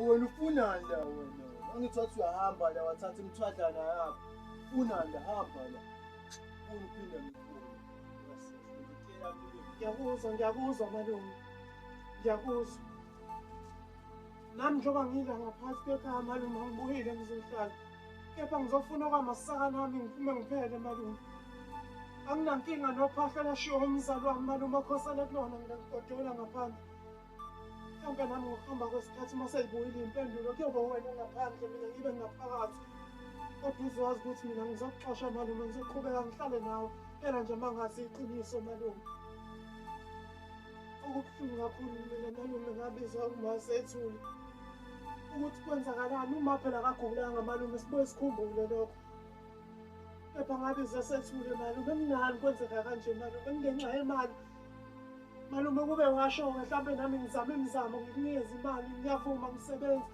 wena ufunani la wena angithi wathi uyahamba la wathatha imithwadlana yakho ufunani la hamba la ufuna uphinde ngiyakuzwa ngiyakuzwa malume ngiyakuzwa nami njengoba ngidla ngaphansi kwekhaya malume angibuyile ngizohlala kepha ngizofuna okwamasaka nami ngiphume ngiphele malume anginankinga nophahla lashiwo umzali wami malume okhosele kulona mina ngigodola ngaphandle mhlawumbe nami ngokuhamba kwesikhathi uma seyibuyile impendulo kuyoba wena ngaphandle mina ngibe ngaphakathi kodwa uzowazi ukuthi mina ngizokuxosha malume ngizoqhubeka ngihlale nawe phela nje uma ngazi iqiniso malume Okubuhlungu kakhulu mina malume ngabizwa umase ethule ukuthi kwenzakalani uma phela akagulanga malume sibuye sikhumbule lokho kepha ngabe zesethule malume mnani kwenzeka kanje malume ngenxa yemali malume kube washo-ke mhlawumbe nami ngizame imizamo ngikunikeze imali ngiyavuma ngisebenza